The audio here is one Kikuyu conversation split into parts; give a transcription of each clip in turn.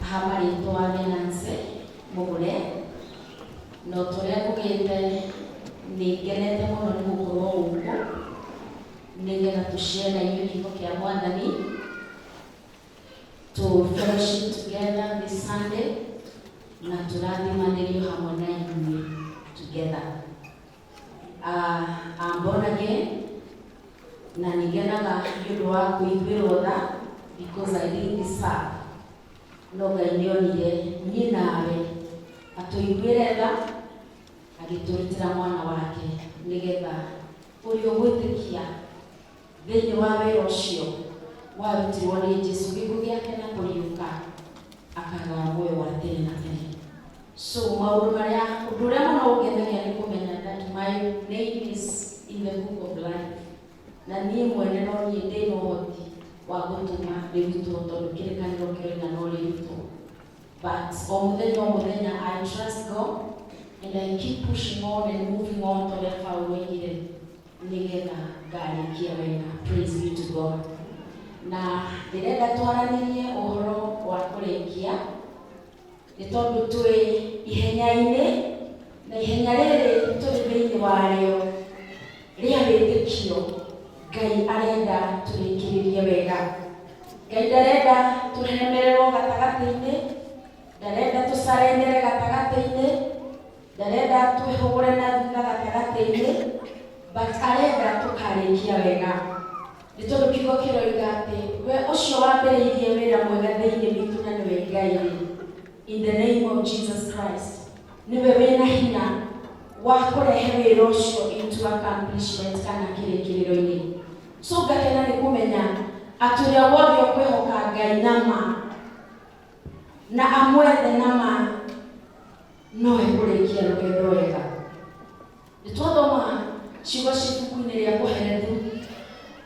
Haha marĩtwa nĩ Nancy Mũgũre, na o ta ũrĩa ngugĩte nĩ ngenete mũno nĩ gũkorwo gũkũ nĩgetha tũ share na inyuĩ kiugo kĩa Mwathani, tũ fellowship together this Sunday na tũrathimanĩrio hamwe na inyuĩ together. Ah, I'm born again na nĩngenaga nĩ ũndũ wa kũiguĩrwo tha because I didn't deserve no ngai nĩonire niĩ nawe atũiguĩre tha agĩtũrutĩra mwana wake nĩgetha ũrĩa ũgwĩtĩkia Thĩinĩ wa wĩra ũcio warutirwo nĩ Jesu, gĩkuũ gĩake na kũriũka, akagawa muoyo wa tene na tene. So maũndũ marĩa, ũndũ ũrĩa mũno ũngenagia nĩ kũmenya that my name is in the book of life, na niĩ mwene no niĩ ndĩ na ũhoti wa gũtũma rĩrutwo tondũ kĩrĩkanĩro kĩroiga no rĩrutwo. But o mũthenya o mũthenya I trust God and I keep pushing on and moving on ta ũrĩa Paulo oigire, nĩgetha ngarĩkia wega. Praise be to God. Na ndĩrenda twaranĩrie ũhoro wa kũrĩkia nĩ tondũ twĩ ihenya-inĩ na ihenya rĩrĩ tũrĩ thĩinĩ warĩo rĩa wĩtĩkio ngai arenda tũrĩkĩrĩrie wega ngai ndarenda tũremererwo gatagatĩ-inĩ ndarenda tũcarendere gatagatĩ-inĩ Ndarenda twĩhũgũre na thutha gatagatĩ-inĩ, but arenda tũkarĩkia wega. Nĩ tondũ kiugo kĩroiga atĩ we ũcio wambĩrĩirie wĩra mwega thĩinĩ witũ na nĩwe Ngai rĩ, in the name of Jesus Christ, nĩwe wĩna hinya wa kũrehe wĩra ũcio into accomplishment kana kĩrĩkĩrĩro-inĩ. So ngakena nĩ kũmenya atĩ ũrĩa wothe ũkwĩhoka Ngai na ma na amwethe na ma No ekũrĩkia rũgendo wega. Nĩ twathoma ciugo ci ibuku-inĩ rĩa Koherethu,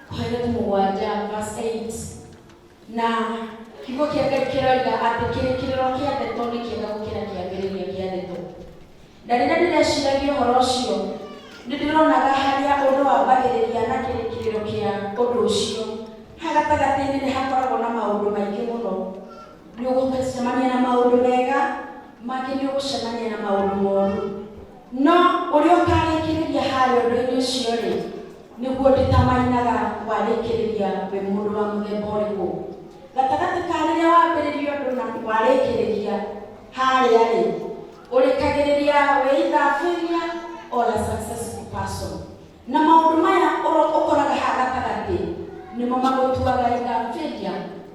Koherethu mũgwanja verse 8 na kiugo kĩa Ngai kĩroiga atĩ kĩrĩkĩrĩro kĩa ndeto nĩ kĩega gũkĩra kĩambĩrĩria kĩa ndeto. Na rĩrĩa ndĩreciragia ũhoro ũcio, nĩ ndĩronaga harĩa ũndũ wambagĩrĩria na kĩrĩkĩrĩro kĩa ũndũ ũcio. Haha gatagatĩ-inĩ nĩ hakoragwo na maũndũ maingĩ mũno. Nĩ ũgũcemania na maũndũ mega, mangĩ nĩ ũgũcemania na maũndũ moru. No ũrĩa ũtarĩkĩrĩria harĩa ũndũ-inĩ ũcio rĩ, nĩguo ndĩtamainaga warĩkĩrĩria wĩ mũndũ wa mũthemba ũrĩkũ. Gatagatĩ ka rĩrĩa wambĩrĩria ũndũ na warĩkĩrĩria harĩa rĩ, ũrĩkagĩrĩria wĩ either a failure or a successful person. Na maũndũ maya ũro- ũkoraga haha gatagatĩ nĩmo magũtuaga infanteria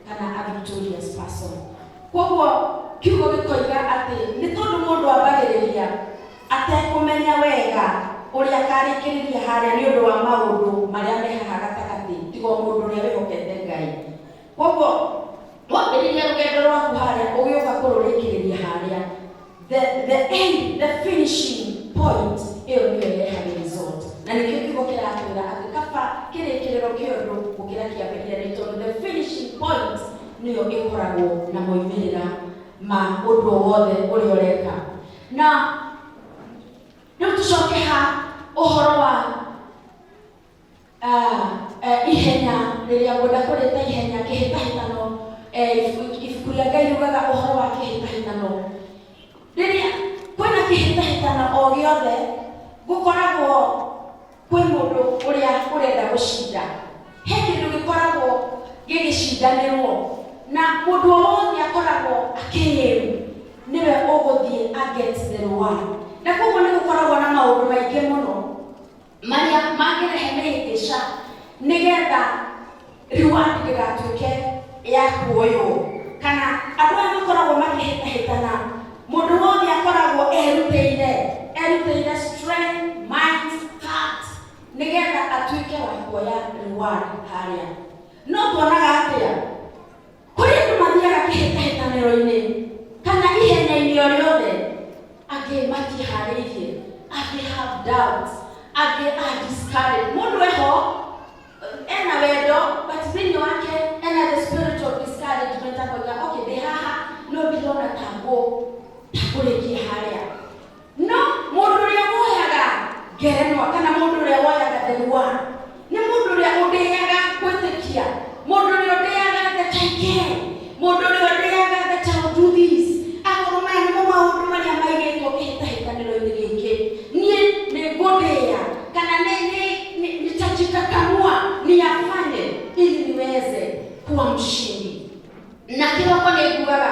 kana a victorious person kwoguo kiugo gĩkoiga atĩ nĩ tondũ mũndũ ambagĩrĩria atekũmenya wega ũrĩa akarĩkĩrĩria harĩa nĩ ũndũ wa maũndũ marĩa me haha gatagatĩ tiga o mũndũ ũrĩa wĩhokete ngai koguo wambĩrĩria rũgendo rwaku harĩa ũgĩũka kũrũrĩkĩrĩria harĩa the, the end the finishing point ĩyo nĩyo ĩrehaga result na nĩkĩo kiugo kĩratwĩra atĩ kaba kĩrĩkĩrĩro kĩa ũndũ gũkĩra kĩambĩrĩria nĩ tondũ the finishing point nĩyo ĩkoragwo na moimĩrĩra ma ũndũ o wothe ũrĩa ũreka na rĩu tũcoke ha ũhoro wa Ah, eh, ihenya rĩrĩa ngwenda kũrĩta ihenya kĩhĩtahĩtano eh, ibuku ibuku rĩa ngai riugaga ũhoro wa kĩhĩtahĩtano rĩrĩa kwĩna kĩhĩtahĩtano o gĩothe gũkoragwo kwĩ mũndũ ũrĩa ũrenda gũcinda he kĩndũ gĩkoragwo gĩgĩcindanĩrwo na mũndũ o wothe akoragwo akĩĩru nĩwe ũgũthiĩ aget the reward na koguo nĩ gũkoragwo na maũndũ maingĩ mũno Marĩa mangĩrehe mĩhĩngĩca nĩgetha reward ndĩgatuĩke ya kuoywo. Kana andũ aya makoragwo makĩhĩtahĩtana, mũndũ wothe akoragwo erutĩire, erutĩire strength, mind, heart, nĩgetha atuĩke wa kuoya reward harĩa. No tuonaga atĩa? Kũrĩ andũ mathiaga kĩhĩtahĩtanĩro-inĩ kana ihenya-inĩ o rĩothe, angĩ matiĩharĩirie, angĩ have doubts, angĩ are discouraged. Mũndũ eho ena wendo but thĩinĩ wake ena the spirit of discouragement akoiga okay ndĩ haha no ndirona ta ngũ ta kũrĩkia harĩa no mũndũ ũrĩa woyaga ngerenwa kana mũndũ ũrĩa woyaga the one nĩ mũndũ ũrĩa ũndĩaga gwĩtĩkia mũndũ ũrĩa ũndĩaga the taike mũndũ ũrĩa ũndĩaga the child do this akorwo maya nĩmo maũndũ marĩa maigĩtwo kĩhĩtahĩtanĩro-inĩ gĩkĩ niĩ nĩ ngũndĩya kana nĩ nĩ- nĩ- nitajikakamua niyafanye ili niweze kuwa mshindi na kĩroko nĩ ngugaga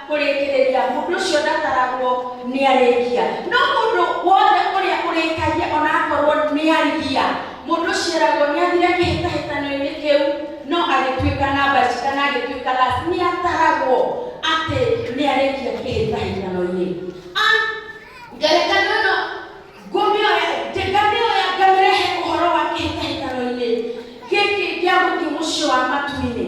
kũrĩkĩrĩria, mũndũ ũcio ndataragwo nĩ arĩkia. No mũndũ wothe ũrĩa ũrĩkagia ona akorwo nĩ arigia, mũndũ ũcio eragwo nĩ athire kĩhĩtahĩtano-inĩ kĩu, no agĩtuĩka namba ici kana agĩtuĩka last, nĩ ataragwo atĩ nĩ arĩkia kĩhĩtahĩtano-inĩ. A- Ngerekano ĩno ngũmĩoya, nge- ngamĩoya ngamĩrehe ũhoro wa kĩhĩtahĩtano-inĩ gĩkĩ gĩa gũthiĩ mũciĩ wa matu-inĩ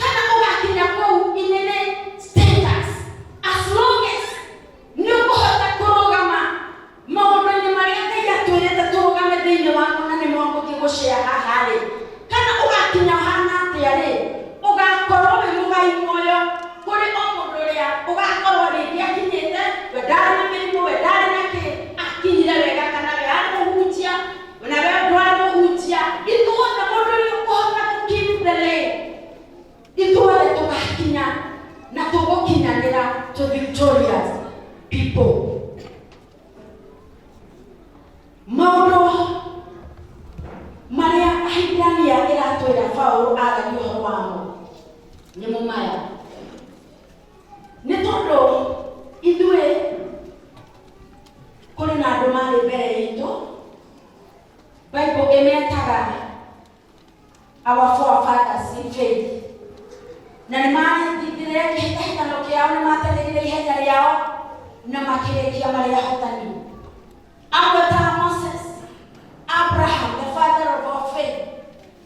kana ũgakinya kũu inene status as long as nĩ ũkũhota kũrũgama maũndũ-inĩ marĩa ngai atwĩrĩte tũrũgame thĩinĩ wamo na nĩmo ngũthiĩ gũcea haha rĩ kana ũgakinya ũhana atĩa rĩ ũgakorwo wĩ mũgai muoyo kũrĩ o mũndũ ũrĩa ũgakorwo rĩngĩ akinyĩte we ndarĩ na mĩrimũ we ndarĩ na kĩ akinyire wega kana we arĩ mũhunjia Mna vevwani muhutya ithuothe mũndũ nĩ ũkũhota gũkĩmbere ithuothe tũgakinya na tũgũkinyanĩra to victorious people maũndũ marĩa ahibirania ĩratwĩra paulo aragia ũhoro wamo nĩmo maya nĩ tondũ ithuĩ kũrĩ na andũ marĩ mbere itũ bible ĩmetaga our forefathers in faith na nĩ marĩthire kĩhĩtahĩtano kĩao nĩ matengerire ihenya rĩao na makĩrĩkia marĩ ahotani amwe ta moses abraham the father of our faith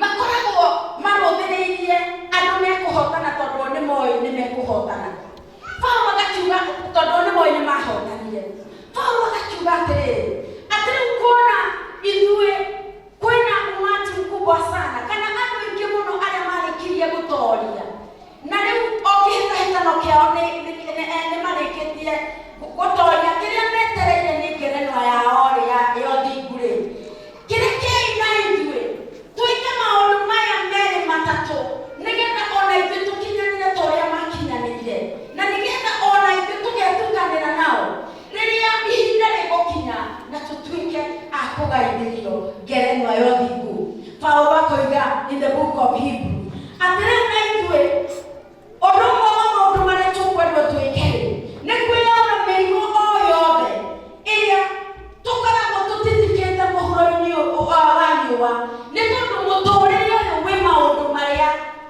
Makoragwo marũmĩrĩirie andũ mekũhootana tondũ o nĩ moĩ nĩ mekũhootana. Paulo agakiuga tondũ o nĩ moĩ nĩ mahootanire. Paulo agakiuga atĩrĩrĩ, atĩ rĩu kuona ithuĩ kwĩna umati mkubwa sana, kana andũ aingĩ mũno arĩa marĩkirie gũtooria, Na rĩu o kĩhĩtahĩtano kĩao nĩ- nĩ- nĩ- eh, nĩmarĩkĩtie gũ- gũtoria kĩrĩa metereire nĩ ngerenwa yao-rĩ ya- ĩyo thingu-rĩ kĩrekei na ithuĩ twĩke maũndũ maya merĩ matatũ nĩgetha ona ithuĩ tũkinyanĩre ta ũrĩa makinyanĩire na nĩgetha ona ithuĩ tũgetukanĩra nao rĩrĩa ihinda rĩgũkinya na tũtuĩke a kũgaithĩrio ngerenwa ya ũthingu paulo akoiga in the book of hebrew atĩ rĩu na ithuĩ ũndũ ũmwe wa maũndũ marĩa tũkwendwo twĩke nĩ kwĩyona mĩrimũ o yothe ĩrĩa tũkoragwo tũtitikĩte mũhuro-inĩ ũyũ wa wa riũa nĩ tondũ mũtũũrĩre ũyũ wĩ maũndũ marĩa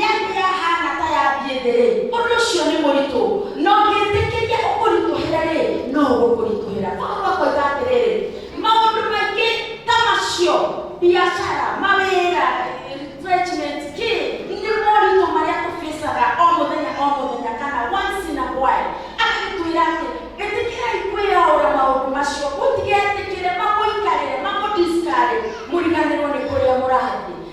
Yanyu yahaana ta ya thiĩ thĩ-rĩ, ũndũ ũcio nĩ mũritũ, na ũngĩtĩkĩria ũkũritũhĩre-rĩ, no ũgũkũritũhĩra. Mũndũ no akoiga atĩrĩrĩ, Maũndũ maingĩ ta macio, biacara, mawĩra, enrichment, kĩ, nĩ moritũ marĩa tũfĩcaga o mũthenya o mũthenya kana once in a while. Agagĩtwĩra atĩ, Ĩtĩkĩrai kwĩyaũra maũndũ macio, mũtigetĩkĩre mamũikarĩre, mamũ-discourage, mũriganĩrwo nĩ kũrĩa mũrathiĩ.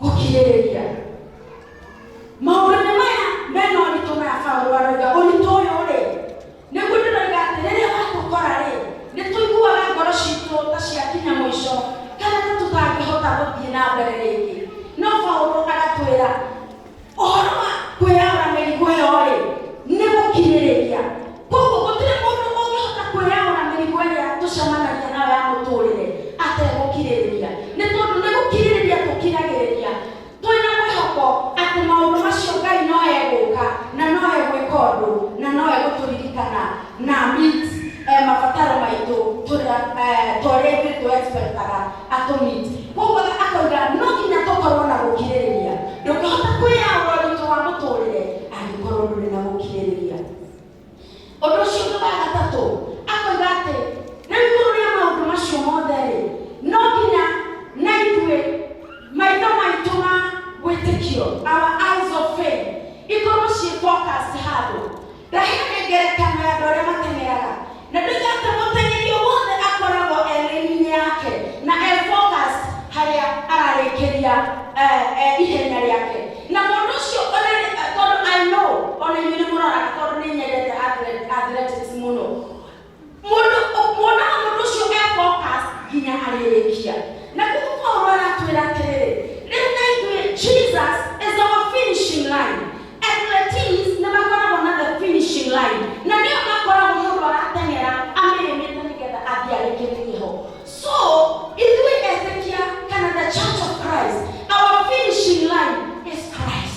gũkirĩrĩria maũndũ-inĩ maya mena ũritũ maya Paulo aroiga ũritũ ũyũ rĩ nĩguo ndĩroiga atĩ rĩrĩa watũkora rĩ nĩ tũiguaga ngoro citũ ta ciakinya mũico kana ta tũtangĩhota gũthiĩ na mbere rĩngĩ no Paulo agatwĩra ũhoro wa kwĩyara mĩrigo ĩyo-rĩ nĩ gũkirĩrĩria koguo gũtirĩ mũndũ ũngĩhota kwĩyara mĩrigo ĩrĩa tũcemanagia nayo ya mũtũrĩre ategũkirĩrĩria nĩ tondũ nĩ gũkirĩrĩria tũkiragĩrĩria twĩna mwĩhoko atĩ maũndũ macio ngai no egũka na no egwĩka ũndũ na no egũtũririkana na meet, eh, mabataro maitũ tũrĩa eh, twarĩa ithuĩ twexpectaga atũmĩte koguo akoiga no nginya tũkorwo na gũkirĩrĩria ndũngĩhota kwĩyaũra ũritũ wa mũtũrĩre angĩkorwo ndũrĩ na gũkirĩrĩria ũndũ ũcio ũngĩ wa gatatũ akoiga atĩ rĩu igũrũ rĩa maũndũ macio mothe rĩ no nginya na ithuĩ maitho maitũ ma wĩtĩkio our eyes of faith ikorwo ciĩ focused handũ Ndahiro nĩ ngerekano ya andũ arĩa mateng'eraga. Na ndoiga atĩ mũteng'eri o wothe akoragwo e raini-inĩ yake na e focused harĩa ararĩkĩria eh, eh, ihenya rĩake. Na mũndũ ũcio ona rĩ- eh, tondũ I know ona inyuĩ nĩ mũroraga tondũ nĩ nyendete athle- athletics mũno. mũndũ muonaga mũndũ ũcio e focus nginya arĩrĩkia na koguo paulo aratwĩra atĩrĩrĩ rĩu na ithuĩ jesus is our finishing line athletics nĩ makoragwo na the finishing line na nĩyo makoragwo mũndũ arateng'era amĩrĩmĩte nĩgetha athiĩ arĩkĩte kĩho so ithuĩ etekia kana the church of christ our finishing line is christ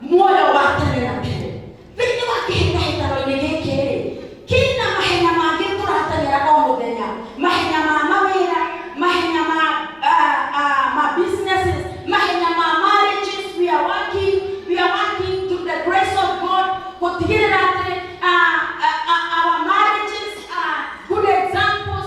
muoyo wa tene na tene thĩinĩ wa kĩhĩtahĩtano-inĩ gĩkĩ rĩ kĩna mahenya mangĩ tũrateng'era o mũthenya mahenya ma mawĩra mahenya ma ah, ah, ma businesses mahenya ma marriages we are working we are working to the grace of god gũtigĩrĩra atĩ ah, ah, ah, our marriages are good examples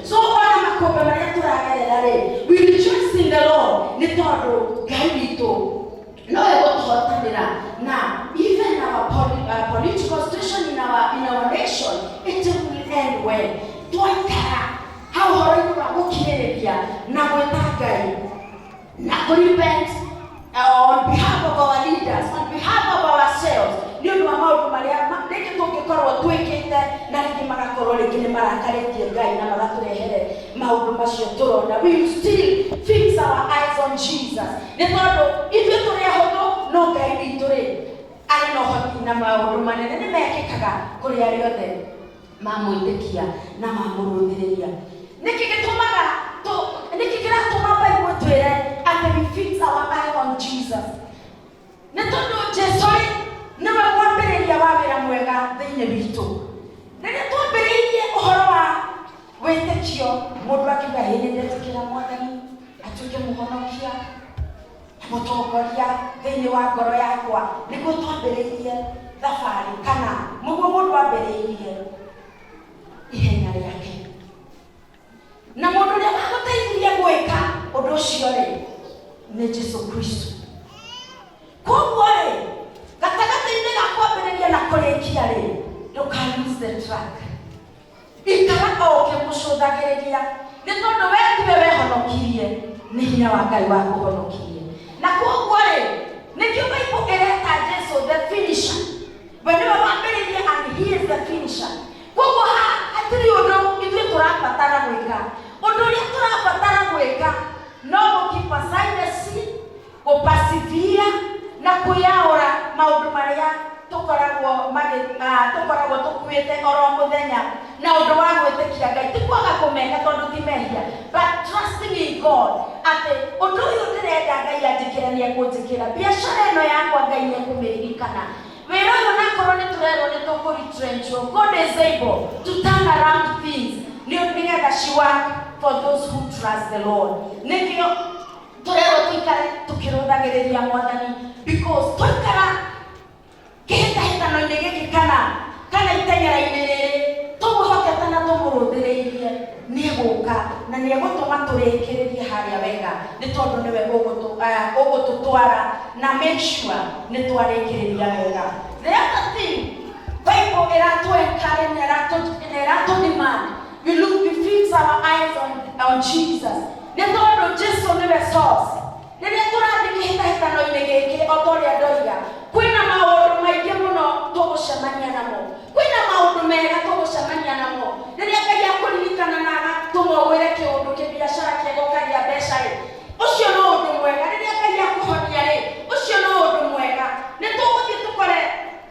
so ona makombe marĩa tũragerera rĩ we rejoice in the lord nĩ tondũ ngai witũ nowe gũtũhotanĩra na even our poli- uh, political situation in our, in our nation it will end well twaikara hau horo-inĩ wa gũkirĩrĩria na gwĩta ngai na kũ repent uh, on behalf of our leaders on behalf of ourselves nĩ ũndũ wa maũndũ marĩa ma- rĩngĩ tũngĩkorwo twĩkĩte na rĩngĩ magakorwo rĩngĩ nĩ marakarĩtie ngai na magatũrehere maũndũ macio tũrona we will still fix our eyes on jesus nĩ tondũ ithuĩ tũrĩ ahũthũ no ngai witũ rĩ arĩ na ũhoti na maũndũ manene nĩ mekĩkaga kũrĩ arĩa othe mamwĩtĩkia na mamũrũmĩrĩria. Nĩkĩ gĩtũmaga tũ, nĩkĩ kĩratũma Bible ĩtwĩre atĩ we fix our eye on Jesus? Nĩ tondũ Jesu-rĩ, nĩwe mwambĩrĩria wa wĩra mwega thĩinĩ witũ. Rĩrĩa twambĩrĩirie ũhoro wa wĩtĩkio, mũndũ akiuga, ĩ nĩndetĩkĩra Mwathani atuĩke mũhonokia, mũtongoria thĩinĩ wa ngoro yakwa nĩguo twambĩrĩirie thabarĩ kana nĩguo mũndũ ambĩrĩirie ihenya rĩake na mũndũ ũrĩa wagũteithirie gwĩka ũndũ ũcio rĩ nĩ jesu kristo koguo rĩ gatagatĩ-inĩ ga kwambĩrĩria na kũrĩkia rĩ ndũka lose the track Ikara o ũkĩmũcũthagĩrĩria, nĩ tondũ we tiwe wehonokirie, nĩ hinya wa Ngai wakũhonokirie. Na kwoguo-rĩ, nĩkĩo Bible ĩreta Jesu the finisher. We nĩwe wambĩrĩirie and he is the finisher. Kwoguo haha hatirĩ ũndũ ithuĩ tũrabatara gwĩka. Ũndũ ũrĩa tũrabatara gwĩka no gũ keep aside the sin, gũpacithia na kwĩyaũra maũndũ marĩa tũkoragwo magĩ- ah, tũkoragwo tũkuĩte oro mũthenya na ũndũ wa gwĩtĩkia ngai ti kwaga kũmeka tondũ ti mehia but trusting in god atĩ ũndũ ũyũ ndĩrenda ngai anjĩkĩra nĩ ekũnjĩkĩra biacara ĩno yakwa ngai nĩ ekũmĩririkana wĩra ũyũ nakorwo nĩ tũrerwo nĩ tũkũritrenchwo god is able to turn around things nĩ nĩgetha she work for those who trust the lord nĩkĩo tũrerwo tũikare tũkĩrũthagĩrĩria mwathani because twaikara kĩhĩtahĩtano-inĩ gĩkĩ kana kana iteng'era-inĩ rĩrĩ tũmũhokete na tũmũrũthĩrĩirie nĩ egũka na nĩ egũtũma tũrĩkĩrĩrie harĩa wega nĩ tondũ nĩwe ũgũtũ- ah, ũgũtũtwara na make sure nĩ twarĩkĩrĩria wega the other thing bible ĩratũ encourage na ĩratũ- na ĩratũ demand we look we fix our eyes on, on jesus Nĩ tondũ Jesu nĩwe source. Rĩrĩa tũrathiĩ kĩhĩtahĩtano-inĩ gĩkĩ, o ta ũrĩa ndoiga, kwĩna maũndũ maingĩ mũno tũgũcemania namo. Kwĩna maũndũ mega tũgũcemania namo. Rĩrĩa Ngai akũririkana na agatũma ũgwĩre kĩũndũ kĩbiacara kĩega ũkagĩa mbeca-rĩ, ũcio no ũndũ mwega. Rĩrĩa Ngai akũhonia-rĩ, ũcio no ũndũ mwega. Nĩ tũgũthiĩ tũkore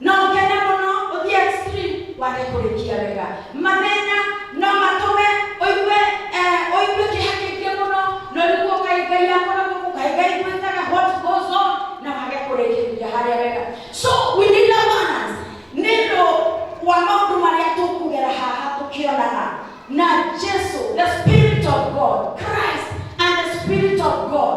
No ũkene mũno ũthiĩ extreme wage kũrĩkia wega. Mathĩna no matũme ũigue eh, ũigue kĩeha kĩingĩ mũno na ũigue kaĩ Ngai akora gũkũ kaĩ Ngai gwĩtaga what goes on na wage kũrĩkĩrĩria harĩa wega. So we need a balance. Nĩ ũndũ wa maũndũ marĩa tũkugera haha tũkĩonaga na Jesu the spirit of God Christ and the spirit of God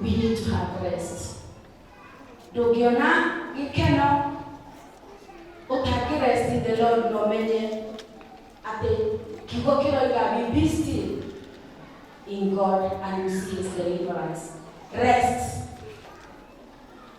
we need to have rest ndũngĩona gĩkeno ũtangĩ rest in the lord na ũmenye atĩ kiugo kĩroiga we be still in god and you see his deliverance rest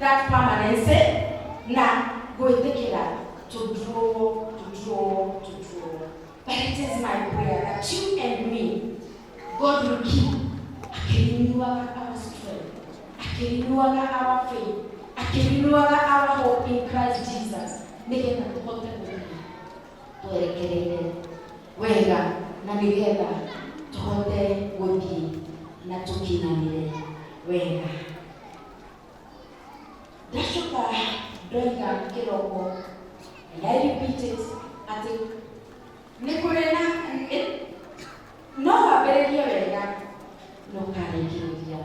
that permanency na gwĩtĩkĩra tũtuo tũtuo tũtuo but it is my prayer that you and me God will keep akĩrinuaga our strength akĩrinuaga our faith akĩrinuaga our hope in Christ Jesus nĩgetha tũhote gũthiĩ twerekereire wega na nĩgetha tũhote gũthiĩ na tũkinyanĩre wega Ndacoka ndoiga kĩroko and I repeat it atĩ nĩ kũrĩ na ĩ- no wambĩrĩrie wega no karĩkĩrĩria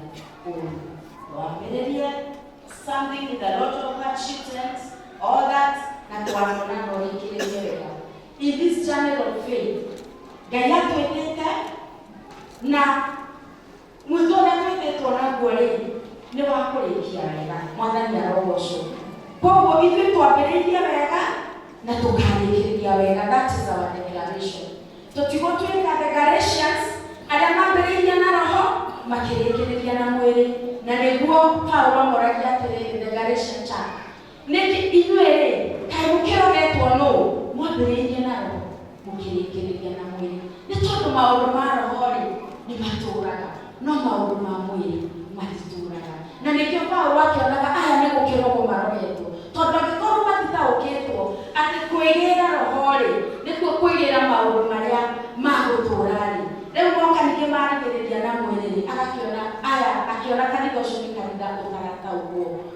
ũru wambĩrĩrie something with a lot of hardship times all that na twakona no rĩkĩrĩrie wega in this journey of faith ngai atwĩtĩte na Mwĩtũ ũrĩa twĩtĩtwo naguo-rĩ, nĩ wa kũrĩkia wega. Mwathani arogocwo. Koguo ithuĩ twambĩrĩirie wega na tũkarĩkĩrĩria wega. That is our declaration. Tũtigwo twĩka the Galatians arĩa mambĩrĩirie na roho makĩrĩkĩrĩria na mwĩrĩ, na nĩguo Paulo amoragia atĩrĩrĩ, the Galatian church, Nĩkĩ inyuĩ-rĩ, kaĩ mũkĩrogetwo nũũ? Mwambĩrĩirie na roho, mũkĩrĩkĩrĩria na mwĩrĩ. Nĩ tondũ maũndũ ma roho-rĩ, nĩmatũũraga, no maũndũ ma mwĩrĩ matitũũraga. Na nĩkĩo Paulo akĩonaga aya nĩ gũkĩrogwo marogetwo, tondũ angĩkorwo matitaũkĩtwo atĩ kwĩgĩĩra roho-rĩ, nĩkuo kwĩgĩĩra maũndũ marĩa ma gũtũũra-rĩ, rĩu moka ningĩ marigĩrĩria na mwĩrĩ-rĩ, agakĩona aya, akĩona kanitha ũcio nĩ kanitha ũtarataũkwo.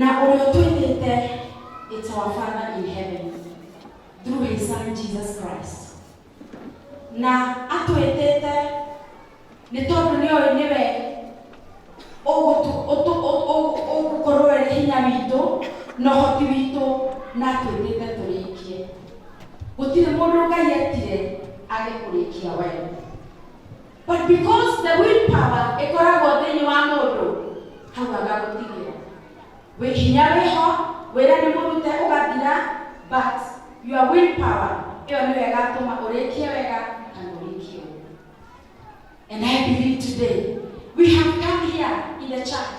na ũrĩa ũtwĩtĩte it's our father in heaven through his son jesus christ na atwĩtĩte nĩ tondũ nĩ ũĩ nĩwe ũgũkorwo wĩ hinya witũ na ũhoti witũ na atwĩtĩte tũrĩkie gũtirĩ mũndũ ngai etire age kũrĩkia wee But because the willpower ĩkoragwo thĩinĩ wa mũndũ hau agagũtigĩra wĩ hinya wĩho wĩra nĩ mũrute ũgathira but your willpower ĩyo nĩyo ĩgatũma ũrĩkie wega kana ũrĩkie ũru and I believe today we have come here in the church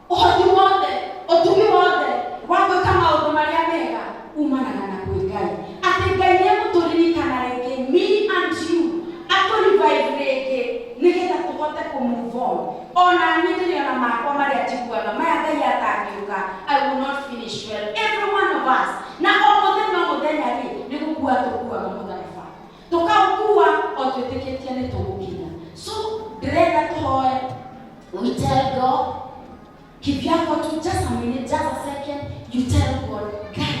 ũhoti wothe ũtugi wothe wa gwĩka maũndũ marĩa mega umanaga na kwĩ ngai atĩ ngai nĩ egũtũririkana rĩngĩ me and you atũrivive rĩngĩ nĩgetha tũhote kũmove on ona niĩ ndĩrĩ ona makwa marĩa njiguaga maya ngai atangĩũka i will not finish well every one of us na o mũthenya o mũthenya rĩ nĩ gũkua tũkuaga mũtharaba tũkaũkua o twĩtĩkĩtie nĩ tũgũkinya so ndĩrenda tũhoe we tell god kivyako tu just a minute just a second you tell god ngai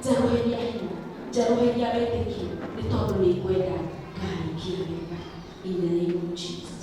njerũhĩria hinya njerũhĩria wĩtĩkio nĩ tondũ nĩ ngwenda ngai kĩwega in the name of jesus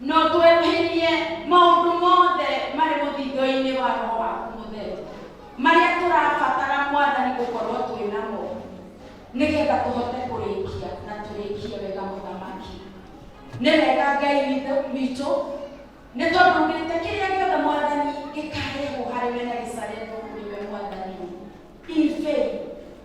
No tweruhĩrie maũndũ mothe marĩ mũthindo-inĩ wa Roho waku mũtheru marĩa tũrabatara Mwathani gũkorwo twĩ namo nĩgetha tũhote kũrĩkia na tũrĩkie wega mũthamaki. Nĩ wega Ngai witũ witũ nĩ tondũ ugĩte kĩrĩa gĩothe Mwathani gĩkarehwo harĩ we na gĩcarehwo kũrĩ we Mwathani in faith